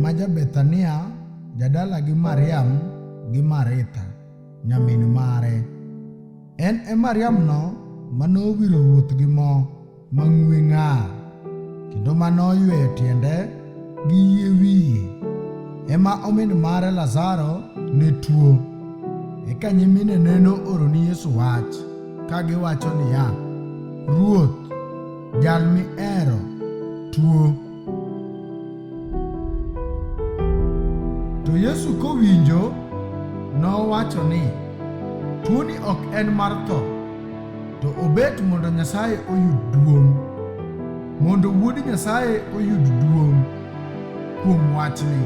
ma ja Bethania jadala gi Mariam gi Maritha nyamin mare. En e Mariamno ma nowiro ruoth gi mo mang'we ng'ar kendo ma noyweyo tiende gi yie wiye. Ema omin mare Lazaro ne tuo. Eka nyiminene nooro ni Yesu wach ka giwacho niya, Ruoth, jal mihero tuo. To Yesu kowinjo nowacho ni, Tuoni ok en mar tho, to obet mondo Nyasaye oyud duong', mondo Wuod Nyasaye oyud duong' kuom wachni.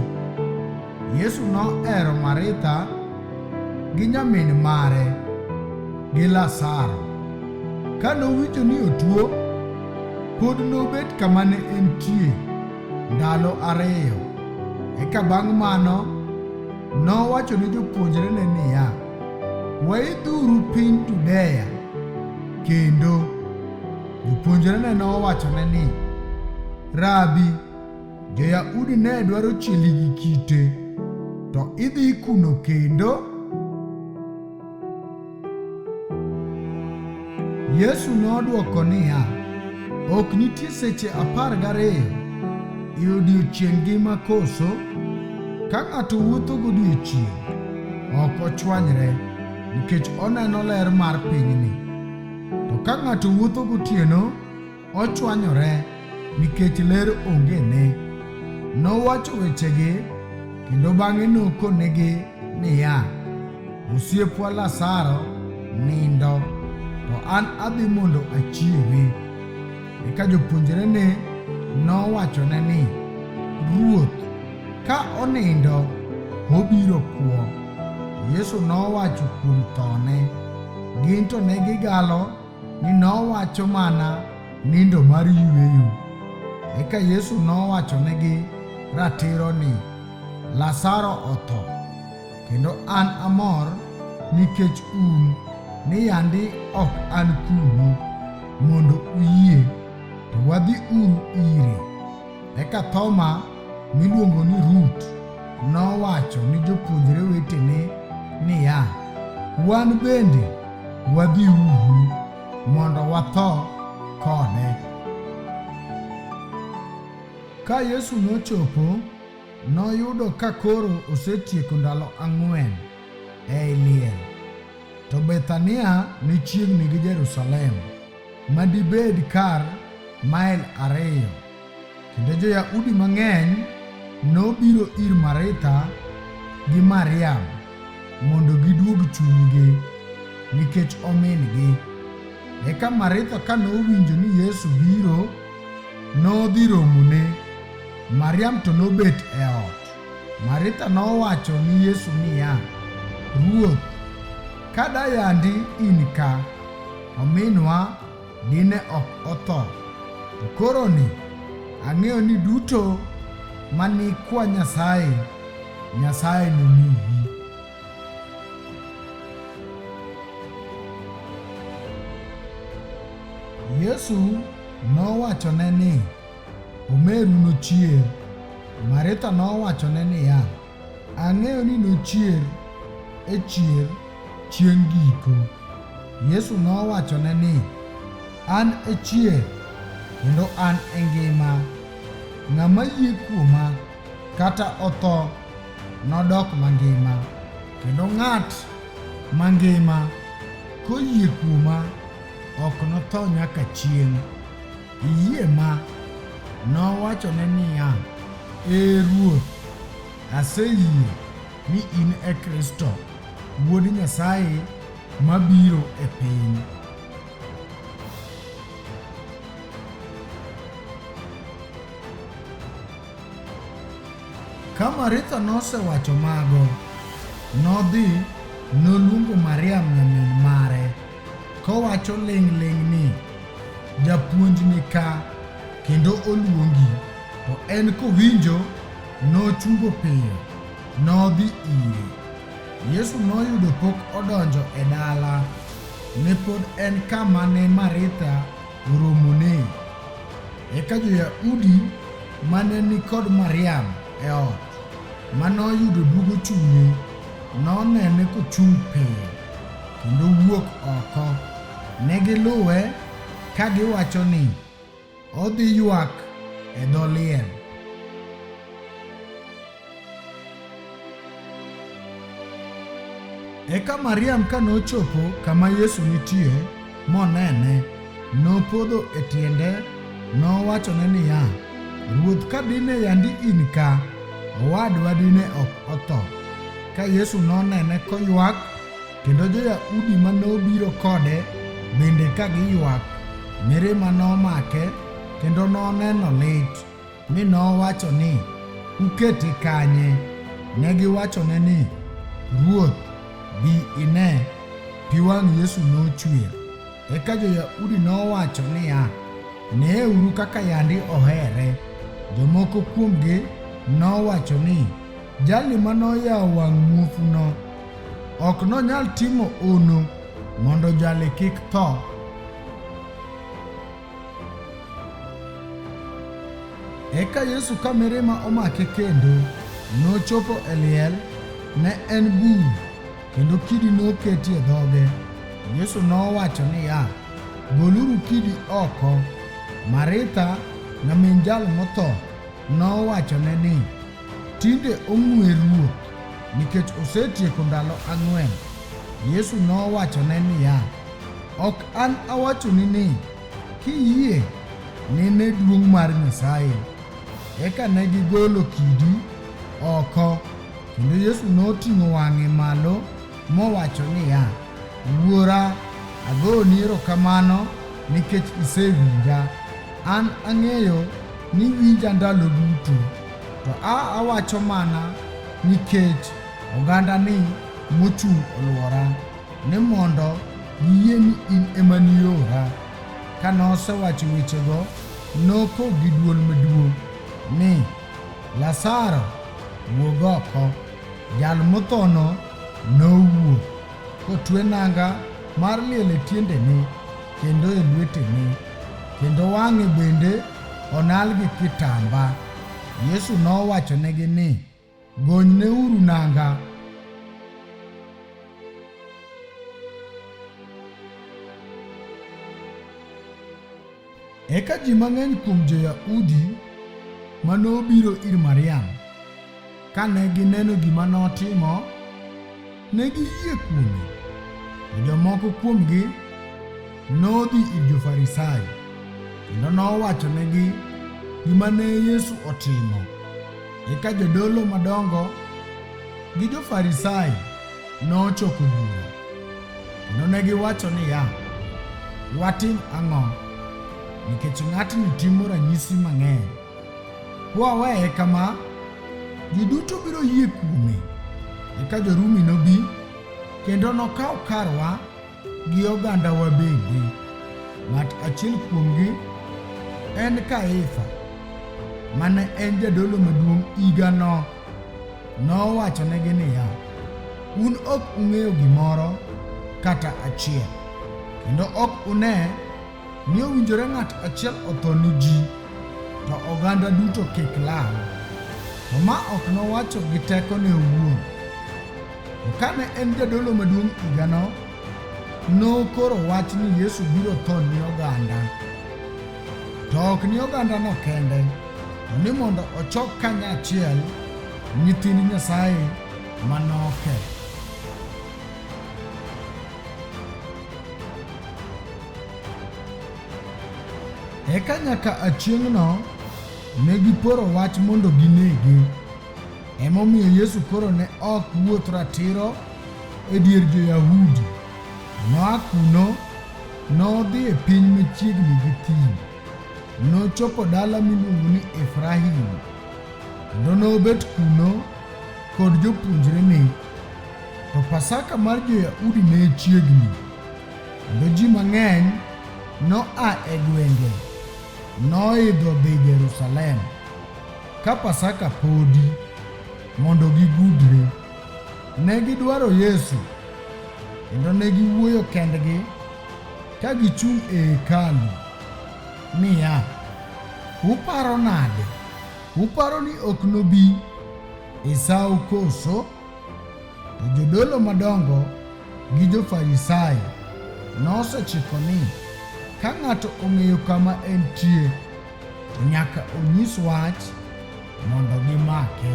Yesu nohero Maritha gi nyamin mare gi Lazaro. Ka nowinjo ni otuo, pod nobet kama ne entie ndalo ariyo. Eka bang' mano nowacho ne jopuonjrene niya, Waidhuru piny Judea kendo. Jopuonjrene nowachone ni, Rabi, Jo-Yahudi ne dwaro chieli gi kite, to idhi kuno kendo? Yesu nodwoko niya, Ok nitie seche apar gariyo e odiechieng' ngima koso? Ka ng'ato wuotho godiechieng', ok ochwanyre nikech oneno ler mar pinyni. To ka ng'ato wuotho gotieno, ochwanyore nikech ler onge ne. Nowacho wechegi kendo bang'e nokonegi niya, Osiepwa Lazaro nindo, to an adhi mondo achiewe. Eka jopuonjrene nowachone ni, Ruoth, ka onindo obiro kwo. Yesu nowacho kuom thone, gin to ne gigalo ni nowacho mana nindo mar yueyo. Eka Yesu nowachonegi ratiro ni, Lazaro otho, kendo an amor nikech un ni yandi ok an kuno, mondo uyie to wadhi uru ire. Eka Thoma miluongo ni Rut nowacho ni jopuonjre wetene niya, Wan bende wadhi uhu mondo watho kode. Ka Yesu nochopo, noyudo ka koro osetieko ndalo ang'wen ei liel, to Bethania ne chiegni gi Jerusalem. ma dibed kar mael ariyo, kendo Jo-Yahudi mang'eny nobiro ir Maritha gi Mariam mondo giduog chunygi nikech omin-gi. Eka Maritha ka nowinjo ni Yesu biro, nodhi romone. Mariam to nobet e ot. Maritha nowacho ni Yesu niya, Ruoth, ka dayandi in ka, Ominwa dine ok otho. To koroni ang'eyo ni duto ma ni kwa Nyasaye, Nyasaye nomiyi. Yesu nowachone ni, Omeru nochier. Maritha nowachone niya, Ang'eyo ni nochier e chier chieng' giko. Yesu nowachone ni, An e chier kendo an e ngima. Ng'ama yie kuoma kata otho nodok mangima, kendo ng'at mangima koyie kuoma ok notho nyaka chieng'. Iyie ma? Nowachone niya, Ee Ruoth, aseyie ni in e Kristo, Wuod Nyasaye mabiro e piny. Ka Maritha nosewacho mago, nodhi noluongo Mariam nyamin mare. kowacho ling'ling' ni, Japuonj ni ka, kendo oluongi. To en kowinjo, nochungo piyo, nodhi ire. Yesu noyudo pok odonjo e dala, ne pod en kama ne Maritha oromone. Eka jo-Yahudi mane ni kod Mariam e ot, ma noyudo duogo chunye, nonene kochung' piyo. kendo wuok oko. Ne giluwe ka giwacho ni, Odhi ywak e dho liel. Eka Mariam ka nochopo kama Yesu nitie, monene, nopodho e tiende, nowachone niya, Ruoth, ka dine yandi in ka, owadwa dine ok otho. Ka Yesu nonene koywak, kendo jo-Yahudi ma nobiro kode bende ka giywak, mirima nomake, kendo noneno lit. Mi nowacho ni, Ukete kanye? Ne giwachone ni, Ruoth, bi ine. Pi wang' Yesu nochwer. Eka jo-Yahudi nowacho niya, Neeuru kaka yandi ohere. Jomoko kuomgi nowacho ni, Jali ma noyawo wang' muofuno ok nonyal timo ono mondo jali kik tho. Eka Yesu ka mirima omake kendo nochopo e liel, ne en bur, kendo kidi noketi e dhoge. Yesu nowacho niya, Goluru kidi oko. Maritha, nyamin jal motho, nowachone ni, Tinde ong'we Ruoth nikech osetieko ndalo ang'wen. Yesu nowachone niya, Ok an awachoni ni, kiyie nine duong' mar Nyasaye. Eka ne gigolo kidi oko, kendo Yesu noting'o wang'e malo mowacho niya, Wuora, agoni erokamano nikech isewinja. An ang'eyo ni iwinja ndalo duto. To a awacho mana nikech oganda ni mochung' olwora ni mondo giyie ni in ema niora. Ka nosewacho wechego, noko gi duol maduong' ni, Lazaro, wuog oko! Jal mothono nowuok, kotwe nanga mar liel e tiendene kendo e lwetene, kendo wang'e bende onal gi kitamba. Yesu nowachonegi ni, Gonyneuru nanga. Eka ji mang'eny kuom Jo-Yahudi ma nobiro ir Mariam Kane gineno gima notimo, ne giyie kuome. To jomoko kuomgi nodhi ir jo-Farisai kendo nowachonegi gima ne Yesu otimo. Eka jodolo madongo gi jo-Farisai nochoko bura kendo ne giwacho niya, Watim ang'o? Nikech ng'atni timo ranyisi mang'eny. Kwaweye kama, ji duto biro yie kuome, eka jo-Rumi nobi kendo nokaw karwa gi ogandawa bende. Ng'at achiel kuomgi en Kaifa, mane en jadolo maduong' higano. Nowachonegi niya, Un ok ung'eyo gimoro kata achiel, kendo ok une Ni owinjore ng'at achiel otho ni ji, to oganda duto kik lal. To ma ok nowacho gi tekone owuon. To kane en jadolo maduong' higano, nokoro wach ni Yesu biro tho ni oganda. To ok ni ogandano kende, to ni mondo ochok kanyachiel nyithind Nyasaye manoke. Eka nyaka achieng'no ne giporo wach mondo ginege. Emomiyo Yesu koro ne ok wuoth ratiro e dier jo-Yahudi. Noa kuno nodhi e piny machiegni gi thim. Nochopo dala miluongo ni Efraim, kendo nobet kuno kod jopuonjrene. To Pasaka mar Jo-Yahudi ne chiegni, kendo ji mang'eny noa e gwenge noidho dhi Jerusalem ka Pasaka podi mondo gigudre. Ne gidwaro Yesu kendo ne giwuoyo kendgi ka gichung' e hekalu niya, Uparo nade? Uparo ni ok nobi e sawo koso? To jodolo madongo gi jo-Farisai nosechiko ni ka ng'ato ong'eyo kama entie, to nyaka onyis wach mondo gimake.